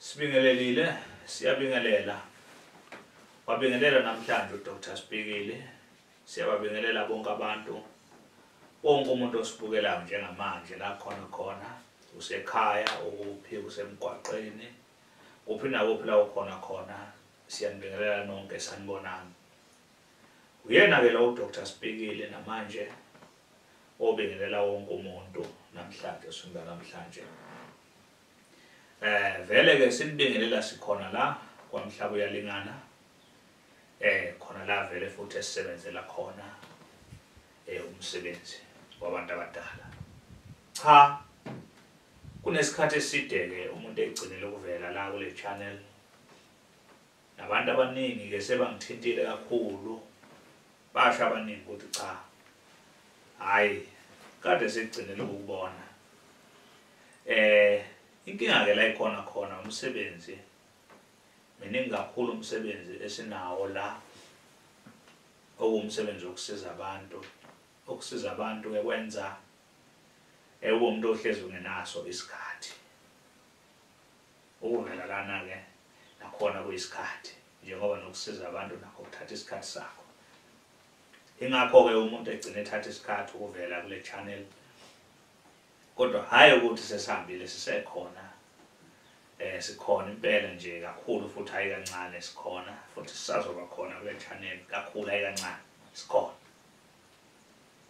Sibingelelile, siyabingelela. Wabingelela namhlanje uDr Sibikile. Siyababingelela bonke abantu. Wonke umuntu osibukelayo njengamanje la khona khona usekhaya ukuphi usemgwaqeni kuphi nakuphi la ukhona khona siyanibingelela nonke sanibonani. Uyena ke lo Dr Sibikile namanje obingelela wonke umuntu namhlanje sifunda namhlanje eh vele ke sinibingelela sikhona la kwamhlaba uyalingana eh khona la vele futhi esisebenzela khona eh umsebenzi wabantu abadala cha kunesikhathi eside ke umuntu egcinele ukuvela la kule channel Nabantu abaningi ke sebangithintile kakhulu basho abaningi ukuthi cha hayi kade sekugcinile ukubona eh inkinga ke la ikhona khona umsebenzi miningi kakhulu umsebenzi esinawo la okuwumsebenzi wokusiza abantu okusiza abantu ke kwenza ewumuntu ohlezi ungenaso isikhathi Ukuvelelana-ke nakhona kuyisikhathi njengoba nokusiza abantu nakho kuthatha isikhathi sakho. Ingakho-ke umuntu egcina ethatha isikhathi ukuvela kule channel kodwa hhayi ukuthi sesihambile sisekhona eh sikhona impela nje kakhulu futhi hayi kancane sikhona futhi sisazoba khona kule channel kakhulu hayi kancane sikhona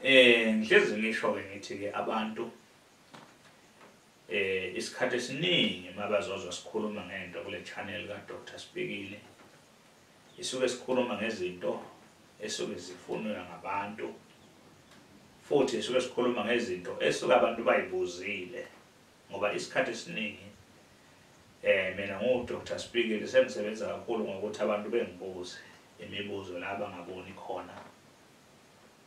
eh ngihlezi ngisho ke ngithi ke abantu Eh isikhathi esiningi mabazozwa sikhuluma ngento kule channel ka Dr Sibikile isuke sikhuluma ngezinto esuke zifunwa ngabantu futhi isuke sikhuluma ngezinto esuke abantu bayibuzile ngoba isikhathi esiningi eh mina ngu Dr Sibikile sengisebenza kakhulu ngokuthi abantu bengibuze imibuzo la bangaboni khona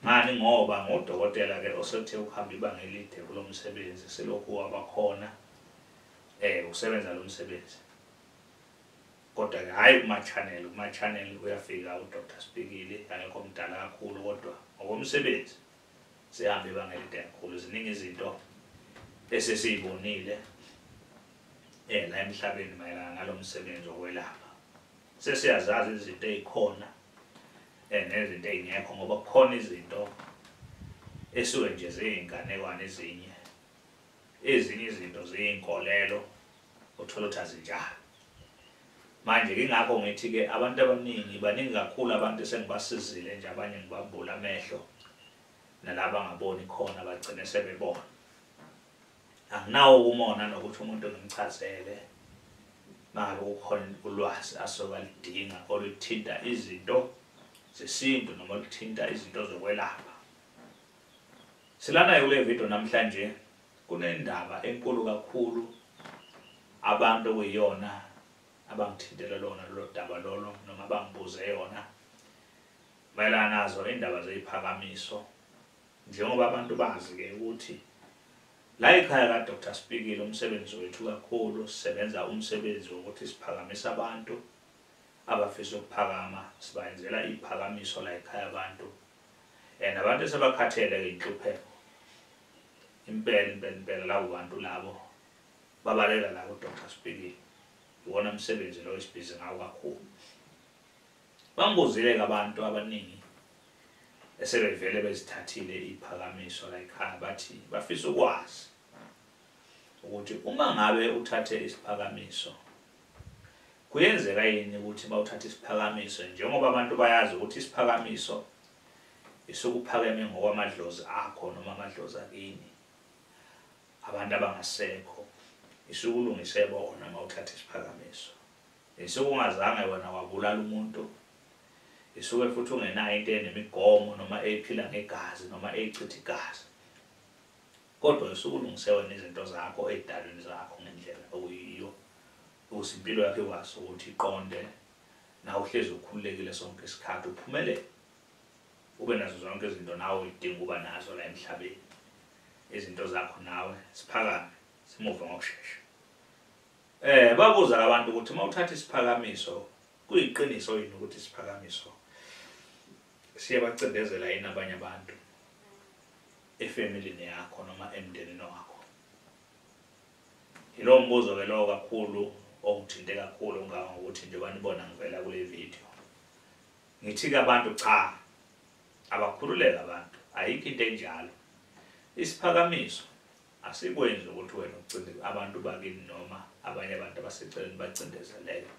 Ngani ngoba ngodokotela ke osethe ukuhamba ibanga elide kulo msebenzi selokhu wabakhona eh usebenza lo msebenzi kodwa ke hayi kuma-channel kuma-channel uyafika udr spikile angekho mdala kakhulu kodwa ngokomsebenzi sihambe ibanga elide kakhulu ziningi izinto esesiyibonile um la emhlabeni mayelana nalo msebenzi wokwelapha sesiyazazi izinto ey'khona eh, nezinto ey'ngekho ngoba kukhona izinto esuke nje ziyinganekwane ezinye ezinye izinto ziyinkolelo uthola ukuthi azinjalo manje kingakho ngithi-ke abantu abaningi baningi kakhulu abantu esengibasizile nje abanye ngibambula amehlo nalaba ngaboni khona bagcine sebebona anginawo umona nokuthi umuntu ngimchazele maka kukhona ulwazi asoka lidinga oluthinta izinto zesintu noma oluthinta izinto zokwelapha silanayo kule video namhlanje kunendaba enkulu kakhulu abantu okuyiyona abangithintele lona lolo daba lolo noma bangibuze yona mayelana nazo indaba zeziphakamiso Njengoba abantu bazi ke ukuthi la ekhaya ka Dr Spikile umsebenzi wethu kakhulu sisebenza umsebenzi wokuthi siphakamise abantu abafisa ukuphakama sibayenzela iphakamiso la ekhaya abantu and abantu esebakhathele ke inhlupheko impela impela impela labo bantu labo babaleka la ku Dr Spikile iwona msebenzi lo esibhizi ngawo kakhulu Bangibuzile-ke abantu abaningi esebevele bezithathile iphakamiso la ekhaya bathi bafisa ukwazi ukuthi uma ngabe uthathe isiphakamiso kuyenzeka yini ukuthi bawuthathe isiphakamiso njengoba abantu bayazi ukuthi isiphakamiso isukuphakeme ngokwamadlozi akho noma amadlozi akini abantu abangasekho isukulungise bona uma uthatha isiphakamiso Isuke ungazange wena wabulala umuntu. Isuke futhi ungenayo into enemigomo noma eyiphila ngegazi noma eyichitha igazi. Kodwa isuke ulungise wena izinto zakho ey'dalweni zakho ngendlela okuyiyo ukuze impilo yakho ikwazi ukuthi iqonde nawe uhlezi ukhululekile sonke isikhathi uphumelele ube nazo zonke izinto nawe uyidinga ukuba nazo la emhlabeni izinto zakho nawe siphakame simuve ngokushesha Eh babuza labantu ukuthi uma uthatha isiphakamiso kuyiqiniso yini ukuthi isiphakamiso siyabacindezela yini abanye abantu efamilini yakho noma emndenini wakho. Yilowo mbuzo ke lowo kakhulu ongithinte kakhulu ngaka ngokuthi njengoba nibona ngivela kule video. Ngithi ke abantu cha abakhululeka abantu ayikho into enjalo. Isiphakamiso Asikwenzi ukuthi wena ucindezele abantu bakini noma abanye abantu abaseceleni bacindezeleke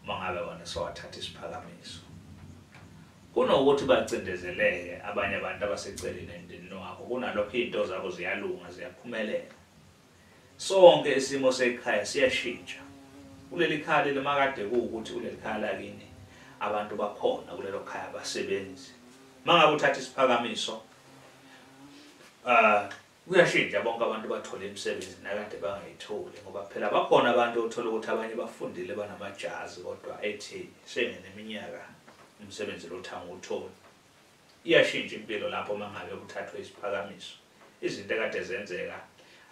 uma ngabe wona sewathatha isiphakamiso. Kunokuthi bacindezeleke abanye abantu abaseceleni emndenini wakho kunalokho izinto zabo ziyalunga ziyaphumelela. Sonke isimo sekhaya siyashintsha. Kuleli khaya leli makade kuwukuthi kuleli khaya lakini abantu bakhona kulelo khaya abasebenzi. Mangabe uthatha isiphakamiso uh Kuyashintsha bonke abantu bathola imisebenzi nakade bangayitholi ngoba phela bakhona abantu othola ukuthi abanye bafundile banamajazi kodwa ethi sengeneminyaka umsebenzi lothanga utholi. Iyashintsha impilo lapho mangabe kuthathwe isiphakamiso. Izinto ekade zenzeka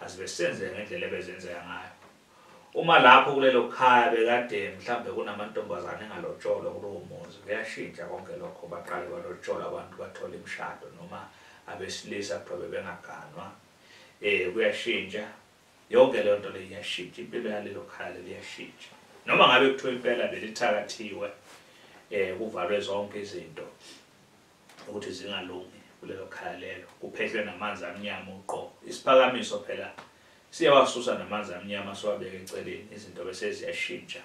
azibe senzeka ngendlela ebezenzeka ngayo. Uma lapho kulelo khaya bekade mhlambe kunamantombazane engalotsholwa kulowo muzi kuyashintsha konke lokho baqale balotshola abantu bathola imishado noma abesilisa kuthiwa bebengaganwa um kuyashintsha yonke leyo nto leyo iyashintsha impilo yalelo khaya leli iyashintsha noma ngabe kuthiwa impela belithakathiwe um kuvalwe zonke izinto ukuthi zingalungi kulelo khaya lelo kuphehlwe namanzi amnyama uqobo isiphakamiso phela siyawasusa namanzi amnyama siwabeke eceleni izinto bese ziyashintsha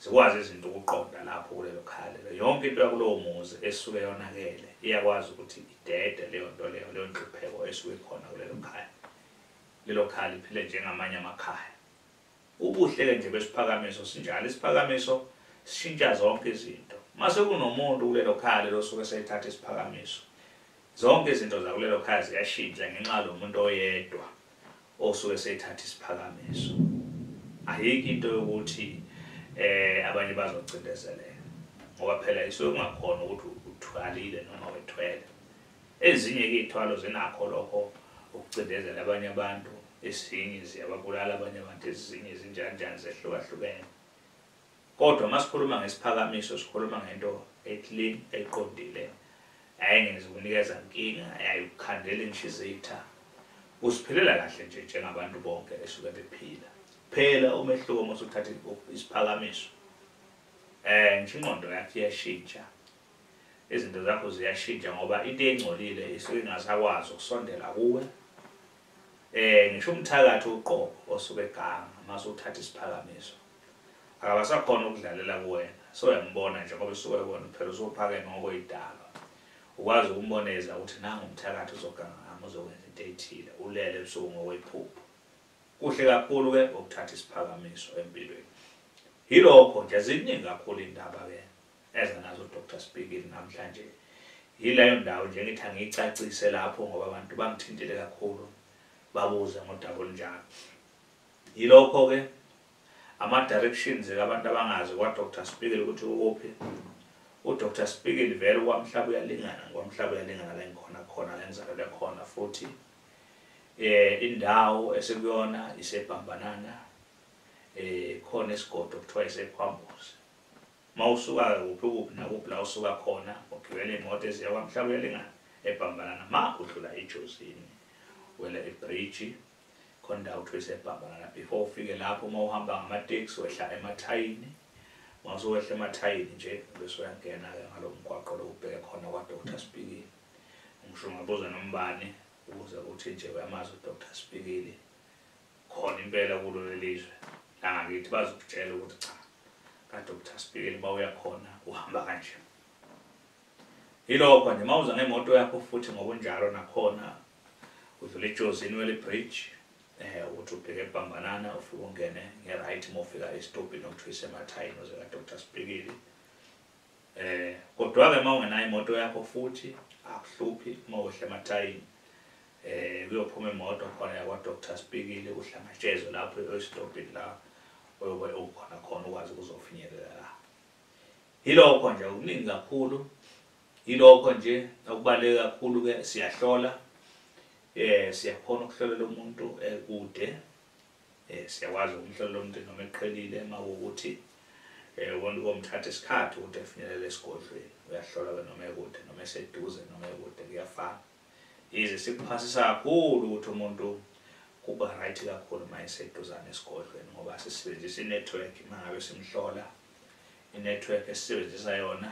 zikwazi izinto ukuqonda lapho kulelo khaya lelo yonke into yakulowo muzi esuke yonakele iyakwazi ukuthi idede leyo nto leyo leyo nhlupheko esuke ikhona kulelo khaya lelo khaya liphile njengamanye amakhaya Ubuhle-ke nje besiphakamiso sinjalo, isiphakamiso sishintsha zonke izinto. Uma sekunomuntu kulelo khaya lelo osuke esethatha isiphakamiso, zonke izinto zakulelo khaya ziyashintsha ngenxa yalo muntu oyedwa osuke esethatha isiphakamiso. Ayikho into yokuthi um abanye bazocindezeleka ngoba phela isuke kungakhona ukuthi uthwalile noma wethwele. Ezinye ke ithwalo zinakho lokho ukucindezela abanye abantu, ezinye ziyababulala abanye abantu, ezinye zinjanjani zehlukahlukene. Kodwa masikhuluma ngesiphakamiso sikhuluma ngento eclean eqondile ayengezi kunikeza nkinga ayayikukhandela inhlizitha usiphilela kahle nje njengabantu bonke esuke bephila phela umehluko uma usuthatha isiphakamiso eh ngisho ingqondo yakhe iyashintsha Izinto zakho ziyashintsha ngoba into engcolile isuke ingasakwazi ukusondela kuwe. Eh ngisho umthakathi uqobo osuke eganga mase uthatha isiphakamiso. Akabasakhona ukudlalela kuwena. So uyambona nje ngoba usuke wona phela usuphakeme ngokwedalo. Ukwazi ukumboneza ukuthi nangu umthakathi uzoganga ngami uzokwenza into ethile. Ulele ebusuku ngokwephupho. Kuhle kakhulu ke ukuthatha isiphakamiso empilweni. Yilokho nje ziningi kakhulu indaba ke. eza nazo uDr Sibhekile namhlanje yileyo ndawo nje ngithi angiyicacise lapho ngoba abantu bangithintile kakhulu babuze ngodaba olunjalo yilokho-ke ama-directions kabantu abangazi kwa-dr Sibhekile ukuthi ukuphi uDr Sibhekile vele kwamhlaba uyalingana kwamhlaba uyalingana la ngikhona khona la ngizalelwe khona futhi eh indawo esekuyona isebhambanana eh khona isigodo kuthiwa isekhwambuzi Mawusuka ke kuphi kuphi nakuphi la usuka khona ugibela imoto eziya kwaMhlabuyalingana eBhambalana ma udlula iJozini wela ibridge khona indawo kuthiwa iseBhambalana before ufike lapho uma uhamba ngamateksi wehla emathayini mawusowehla emathayini nje bese uyangena-ke ngalo mgwaqo lo ubheke khona kwaDr Spikili ngisho ungabuza nombani ubuze ukuthi nje uyamazi uDr Spikili khona impela kulo lelizwe langakithi bazokutshela ukuthi cha kadr sibhekeli uba uyakhona uhamba kanje yilokho nje mawuza ngemoto yakho futhi ngokunjalo nakhona udlula ejozini wele bridge eh ukuthi ubheke ebhambanana ufike ungene ngeright mofika estobhini okuthiwa isemathayini oze kadr sibhekeli Eh kodwa-ke uma ungenayo imoto yakho futhi akuhluphi uma wehle emathayini eh kuyophuma imoto khona yakwa Dr Spikile uhlangatshezwe lapho esitobhini la oyobe ukhona khona ukwazi ukuzofinyelela la yilokho nje okuningi kakhulu yilokho nje okubaleke kakhulu ke siyahlola eh siyakhona ukuhlolela umuntu ekude Eh siyakwazi umhlolo lomuntu noma eqhelile mawukuthi eh wonke komthatha isikhathi ukuthi efinyelele esigodlweni uyahlolwa ke noma ekude noma eseduze noma ekude kuyafana. Yize sikuphasisa kakhulu ukuthi umuntu kuba right kakhulu uma eseduzane esigodlweni ngoba sisebenzisa i-network uma ngabe simhlola i-network esisebenzisa yona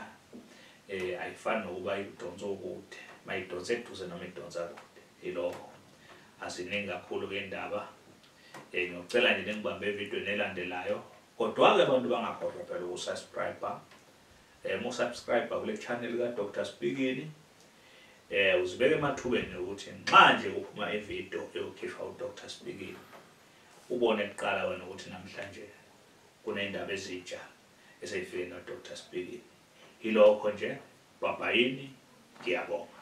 um ayifani nokuba idonsa okude uma idonsa eduze noma idonsa kude Yilokho. Aziningi kakhulu ke indaba. Eh ngiyocela nje ningibambe ivideo nelandelayo. Kodwa ke abantu bangakhohlwa phela ukusubscribe. Eh mu subscribe kule channel ka Dr Spikini. Eh uzibeke emathubeni ukuthi nxa nje kuphuma ivideo eyokhishwa u Dr Spikini ubone kuqala wena ukuthi namhlanje kunendaba ezitsha eseyifike no Dr Spikini. Yilokho nje. Bye bye. Ngiyabonga.